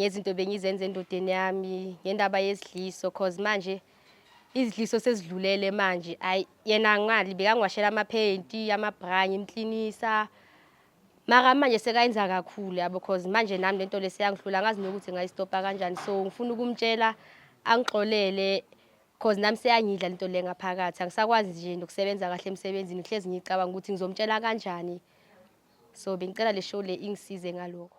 ngezinto bengizenza endodeni yami ngendaba yezidliso cause manje izidliso sezidlulele manje ayi yena ngali bekangiwashela amaphenti amabranye imklinisa mara manje sekayenza kakhulu yabo cause manje nami lento leseyangihlula ngazi nokuthi ngayistopa kanjani so ngifuna ukumtshela angixolele cause nami seyangidla lento le ngaphakathi angisakwazi nje nokusebenza kahle emsebenzini ngihlezi ngicabanga ukuthi ngizomtshela kanjani so bengicela le show le ingisize ngalokho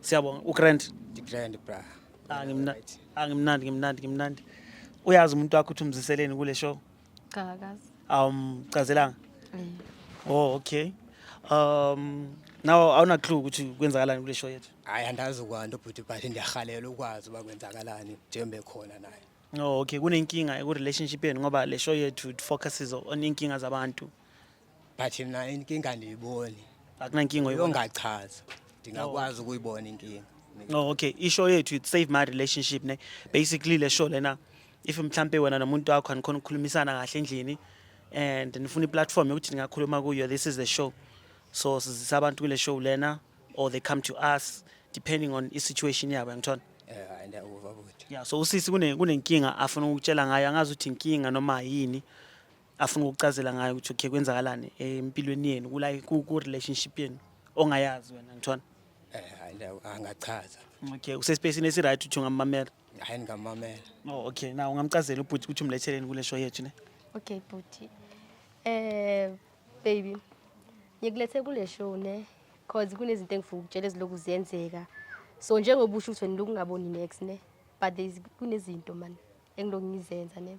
Siyabonga uGrand. Grand bra. Ah ngimnandi. Ah ngimnandi ngimnandi ngimnandi. Uyazi umuntu wakho uthi umziseleni kule show? Cha akazi. Um chazelanga. Eh. Oh okay. Um nawo awuna clue ukuthi kwenzakalani kule show yethu. Hayi andazi kwanto bhuti but ndiyahalela ukwazi uba kwenzakalani njengoba ekhona naye. Oh okay kunenkinga eku relationship yenu ngoba le show yethu it focuses on inkinga zabantu. but mna inkinga andiyiboni akunankinga oyibona yongachaza ndingakwazi ukuyibona inkinga oh okay ishow yethu it save my relationship ne basically le show lena if mhlampe wena nomuntu wakho anikhona ukukhulumisana kahle endlini and nifuna iplatform yokuthi ningakhuluma kuyo this is the show so sizisa abantu kule show lena or they come to us depending on isituation yabo yangithona eh hayi ndiyawuva buti yeah so usisi kune kunenkinga afuna ukutshela ngayo angazi ukuthi inkinga noma yini afuna ukucazela ngayo ukuthi okay kwenzakalani empilweni yenu kula ku relationship yenu ongayazi wena ngithona eh hayi la angachaza okay usespacini esi right uthi ungamamela hayi ngamamela oh okay na ungamcazela ubhuti ukuthi umletheleni kule show yethu ne okay bhuti eh baby ngikulethe kule show ne cause kunezinto engifuna ukutshela eziloku ziyenzeka so njengoba usho ukuthi wena lokungaboni next ne but kunezinto mani engiloku ngizenza ne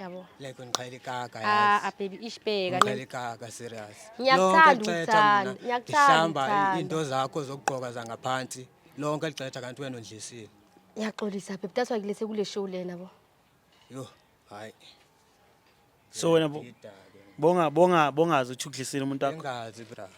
yabo like ngiqhela ikaka ah, yazi ah baby ishibheka ngiqhela ikaka serious ngiyakuthanda ukuthanda ngiyakuthanda into zakho zokugqoka zangaphansi lonke ligxetha kanti wena undlisile ngiyaxolisa baby that's why ngilese kule show lena bo yo hayi so wena bonga bonga bongazi uthi uglisile umuntu wakho bengazi bra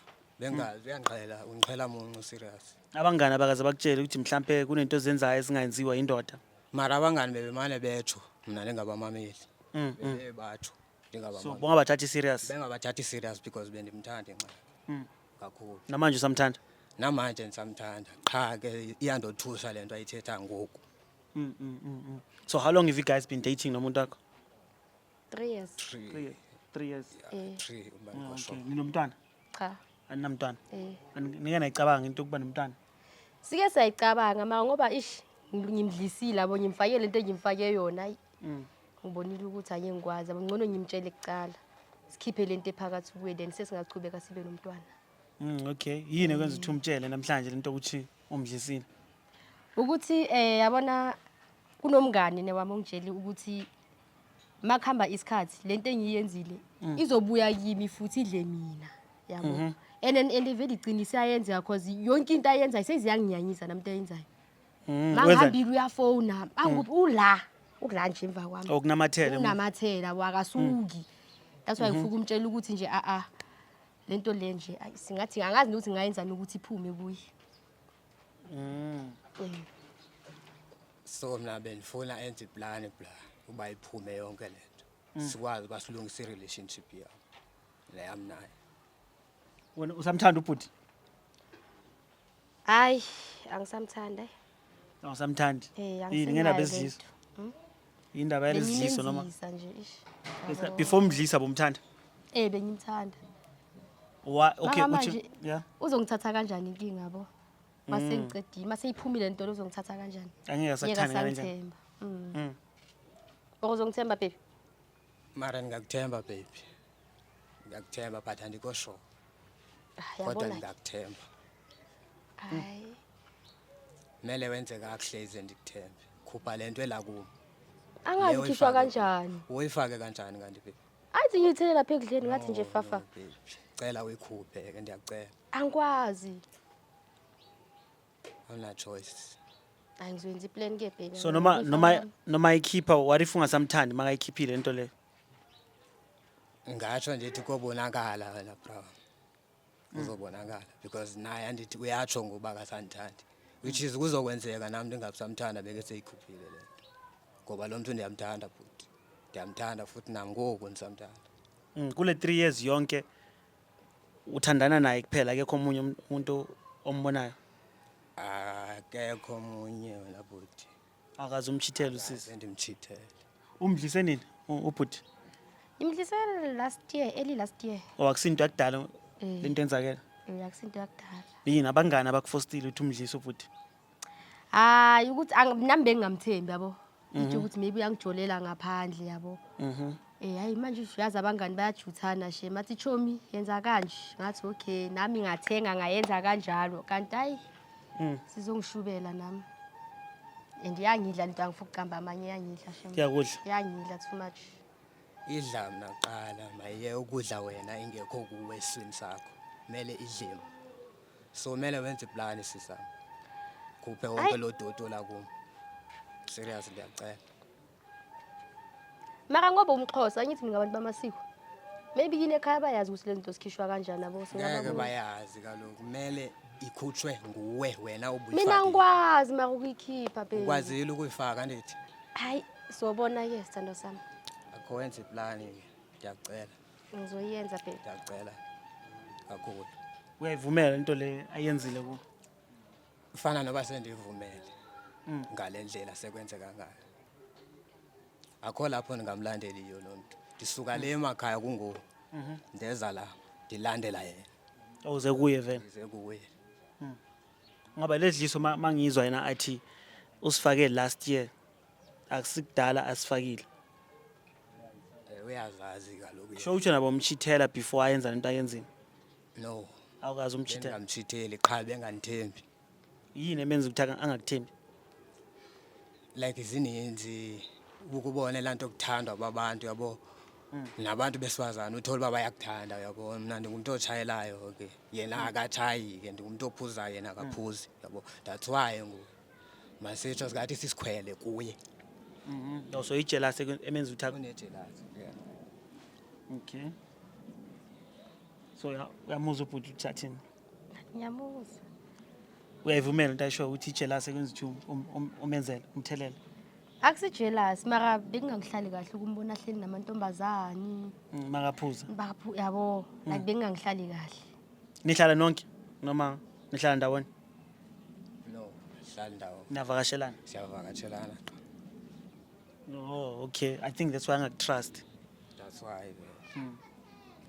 bengazi uyangqhela ungqhela muncu serious abangani abakaze bakutshele ukuthi mhlambe kunento zenzayo ezingayenziwa indoda mara abangani bebemane betsho mna ndingabamameli Mm, mm. bebeye batsho so ndingabamameli bongabathathi serious bengabathathi serious because bendimthanda inxa Mm. kakhulu namanje usamthanda namanje ndisamthanda qha ke iyandothusa le nto ayithetha ngoku Mm, mm, mm, mm. so how long have you guys been dating nomuntu wakho 3 years Three. Three, three years. eh Three, uma Ah, ngikosho. okay. Ninomntwana? cha Aninamntwana? eh Ani- Nike nayicabanga into yokuba nomntwana? sike sayicabanga ma ngoba ish ngim- ngimdlisile abo ngimfakele into engimfake yona ayi Mm. ngibonile ukuthi ake ngikwazi abo ngcono ngimtshele kuqala sikhiphe le nto ephakathi kuye then sesingaqhubeka sibe nomntwana Mm, okay. Yini ekwenza ukuthi umtshele namhlanje lento ukuthi umdlisile? ukuthi eh yabona kunomngani newami ongitsheli ukuthi makuhamba isikhathi lento engiyenzile mm. izobuya kimi futhi idle mina yabo mhm. and and and vele iqinise ayenzeka cause yonke into ayenzayo seziyanginyanyisa namntu ayenzayo mm, mangihambile uyafona anguphi mm. ula ukula nje emva kwami okunamathela oh, unamathela wakasuki that's why mhm. ngifuna ukumtshela ukuthi nje a a lento le nje singathi angazi ukuthi ngayenzani ukuthi iphume kuye Mm. So mina benifuna enze plan bla uba iphume yonke lento. Mm. Sikwazi basilungisa relationship yami. Le yami naye. Wena usamthanda ubhuti? Hayi, angisamthanda. Awusamthandi? Eh, Yini angisenalo ngenabezizwe? into. Indaba yalezidliso noma Bengimenzisa nje ish. Yabo. before umdlisa bomthanda. Eh bengimthanda. Wa okay Mama uthi manje- yeah. Uzongithatha kanjani inkinga yabo? Mase Mm. ngiqedile, mase iphumile lento uzongithatha kanjani? Angeke Yeka asakuthanda kanjani. sangithemba. Mm. Mm. Or uzongithemba baby? mara ngingakuthemba baby ngiyakuthemba but andikho sure Ah, kodwa yabona ke. ngingakuthemba hayi mele wenze kakuhle ize ndikuthembe khupha le nto elakumi angazikhishwa kanjani uyifake kanjani kanti baby athi ngiyithele lapha ekudleni ngathi nje fafa cela uyikhuphe ke ndiyakucela angikwazi awuna choice angizwenzi iplan ke baby so noma noma noma ikhipha what if ungasamthandi makayikhiphile into le ngasho nje ukuthi kobonakala wena bro uzobonakala because naye andithi uyatsho ngoba akasanithandi which is kuzokwenzeka nami ndingabusamthanda beke seyikhuphile le nto ngoba lo mntu ndiyamthanda futhi ndiyamthanda futhi nangoku ndisamthanda Mm, kule 3 years yonke uthandana naye kuphela akekho omunye um- umuntu ombonayo akekho omunye wena bhuti akaze umchithele usisi Sendimchithele. umdlise nini u- ubhuti Imdlise last year, early last year. or akusinto yakudala Eh. lento enzakela Eh, akusinto yakudala. yini abangani abakufostile ukuthi umdlise ubhuti Hayi ukuthi ang- nami bengingamthembi yabo. Ithi ukuthi maybe uyangijolela ngaphandle yabo. Mhm. Eh hayi manje uyazi abangani bayajuthana she mathi chomi yenza kanje ngathi okay nami ngathenga ngayenza kanjalo kanti hayi Mm. sizongishubela nami and yangidla lento angifuna ukuqamba amanye yangidla shem Kuyakudla. yangidla too much idla mna kuqala maye ukudla wena ingekho kuwe esiswini sakho kumele idliwe so kumele wenze iplani sisam khuphe wonke lo doti olakumo serious ndiyacela mara ngoba umxhosa angithi mina abantu bamasiko maybe yini ekhaya bayazi ukuthi lezi zinto zikhishwa kanjani abo ngeke singababona bayazi kaloku kumele ikhutshwe nguwe wena mina ubuyifakile ngikwazi mara ukuyikhipha baby ukwazile ukuyifaka andithi hayi sobona-ke sithando sami akho wenza iplani ke ndiyakucela ngizoyenza baby ndiyakucela kakhulu uyayivumela into le ayenzile ku Mfana noba sendivumele mm. ngale ndlela sekwenzeka ngayo. Akho lapho ndingamlandeli yiyo lo nto. Ndisuka le emakhaya kungoku. Mhm. Ndeza la ndilandela yena. Awuze oh, kuye vele. Ndize kuye. Mm. Ngoba ledliso mangizwa yena athi usifake last year akusikudala asifakile. Eh, uyazazi kaloku. Sho uthi nabo mchithela before ayenza lento ayenzile. no awukazi umchithela bengingamchitheli qha bengandithembi yini emenza ukuthi aka- angakuthembi like zininzi ukubona lanto okuthandwa babantu yabo nabantu besifazane uthole uba bayakuthanda yabo mna ndingumntu otshayelayo ke yena akatshayi ke ndingumntu ophuzayo yena akaphuzi yabo that's why ngoku masitsho singathi sisikhwele kuye no so ijealous eku- emenza ukuthi aka- unejelasi yeah. okay so uyamuzwa ubhuti ukuthi athini ngiyamuzwa uyayivumela into ayishoyo ukuthi ijelasi ekwenza ukuthi um- um- um- umenzele umthelela akusijelasi mara bekungangihlali kahle ukumbona ahleli namantombazane Mm, makaphuza baphu yabo like bekungangihlali kahle nihlala nonke noma nihlala ndawonye no hlala ndawo niyavakashelana siyavakatshelana Oh, okay. I think that's why angakutrust. That's why. Yeah.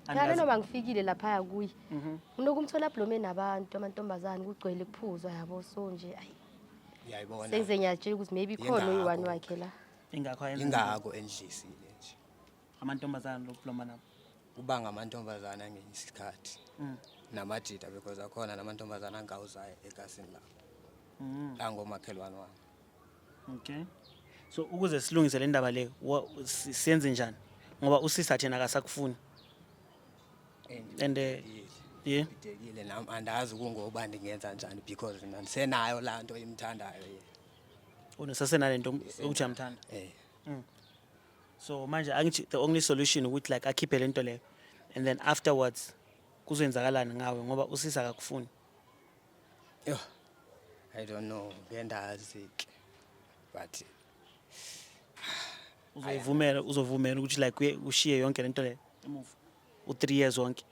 Yabe Angazi- noma ngifikile laphaya kuye Mhm. unokumthola ablome nabantu amantombazane kugcwele kuphuzwa yabo so nje ayi Uyayibona. sengize ngiyatshela ukuthi maybe khona Yingakho. uyi-one wakhe la Ingakho ayenza Ingako endlisile nje. amantombazane lokubloma nabo. Kuba ngamantombazana ngenye isikhathi. Mm. Namajita because akhona namantombazana angawuzayo egasini lapho. Mm. Angomakhelwane wami. Okay. So ukuze silungise le ndaba le wa- si- senze njani? Ngoba usisa thina akasakufuni. And eh, yeah. Ngidekile nami andazi kungoba ndingenza njani because mina ndisenayo laa nto imthandayo ye. Unesasenalento ukuthi amthanda. Eh. So manje angithi the only solution ukuthi like akhiphe lento leyo and then afterwards kuzoyenzakalani ngawe ngoba usisa akakufuni. Yo, I don't know, ngendazi ke. But uzovumela uzovumela ukuthi like uye- ushiye yonke lento le emuva u 3 years wonke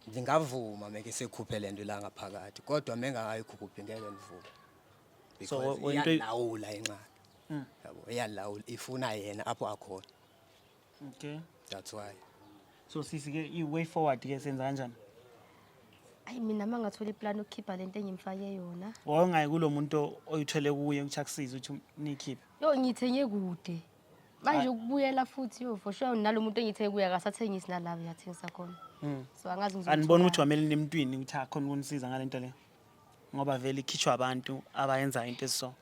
ngingavuma meke sekhuphe lento la ngaphakathi kodwa mengakayikhuphi ngeke ngivume. So, Because we- into- iyalawula inxaki. Yabo, iyalawula ifuna yena apho akhona. okay that's why so sisi ke i way forward ke senza kanjani ayi mina uma ngathola iplan ukukhipha lento engimfake yona wawungayi kulo muntu oyithole kuye ukuthi akusize ukuthi nikhiphe yo ngithenge kude manje ukubuyela futhi yo for sure nalo muntu engithenge kuye akasathengisi nalabo yathengisa khona hmm. so angazi ngizobona ukuthi wamele nemntwini ukuthi akhona ukunisiza ngalento leyo ngoba vele ikhishwa abantu abayenza into esiso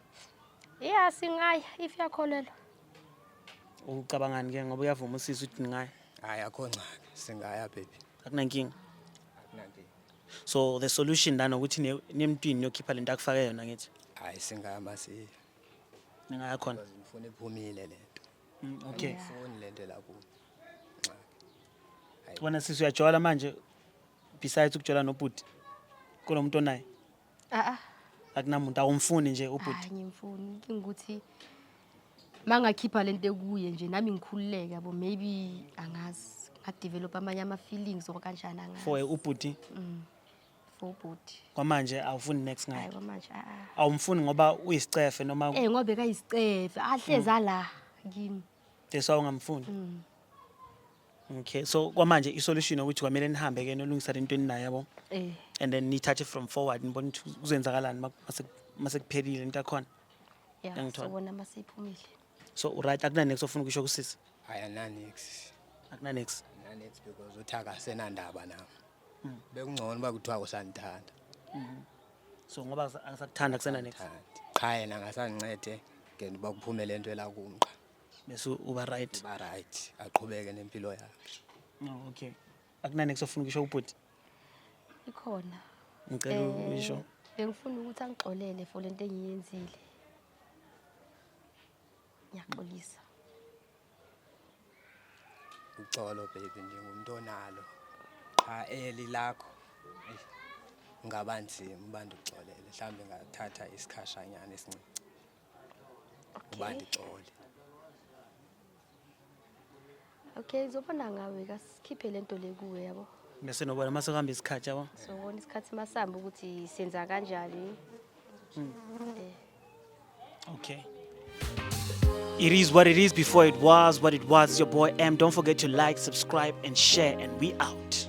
yeah singaya if yakholelwa ucabangani ke ngoba uyavuma usisi ukuthi ningayi hayi akho ngxaki singaya baby akunankinga akunankinga so the solution lana ukuthi nemntwini yokhipha lento akufake yona ngithi hayi singaya masiya ningaya khona ngifuna iphumile lento mm, okay ngifuni lento la kuwe wena sisi uyajola manje besides ukutshela nobhuti kulo muntu onaye Ah ah. akunamuntu awumfuni nje ubhuti Hayi ngimfuni inkinga ukuthi mangakhipha lento ekuye nje nami ngikhululeke yabo maybe angazi ngadevelop amanye ama feelings or kanjani angazi. for ubhuti for bhuti. kwamanje awufuni next Hayi ngaye kwamanje a a. awumfuni ngoba uyisicefe noma Eh ngobe kayisicefe ahleza la kimi. deswa ungamfuni Okay, so kwamanje isolution ukuthi kwamele nihambe ke nolungisa lento eninayo yabo. Eh. And then nithathe from forward nibone ukuthi kuzenzakalani mak- mase mase kuphelile into yakhona. Ya, Ngangithola. sawona masephumile. So right akuna next ofuna ukusho kusisi. ayananix Akuna next. nanix because uthi akasenandaba nam bekungcono uba kuthiwa kusandithanda So ngoba akasa- akasakuthanda kusena next. Thandi. qha yena ngasandincede ngendiba kuphume le nto elakumqa bese uba right ba right aqhubeke nempilo yakhe no okay akunani kusofuna ukusho ubhuti ikhona ngicela Eh, uyisho bengifuna ukuthi angixolele for lento engiyenzile ngiyaxolisa uxolo baby nje ngumuntu onalo qha eli lakho eyi, ngaba nzima ubantu uxolele mhlawumbe ngathatha isikhashanyana esincinci Okay. Ubandi xole. Okay, zobona ngawe kasikhiphe lento le kuwe yabo. Bese nobona mase kuhamba isikhathi yabo. Sobona isikhathi masamba ukuthi senza kanjani. Mm. Eh. Okay. It is what it is before it was what it was. It's your boy M. Don't forget to like, subscribe, and share, and we out.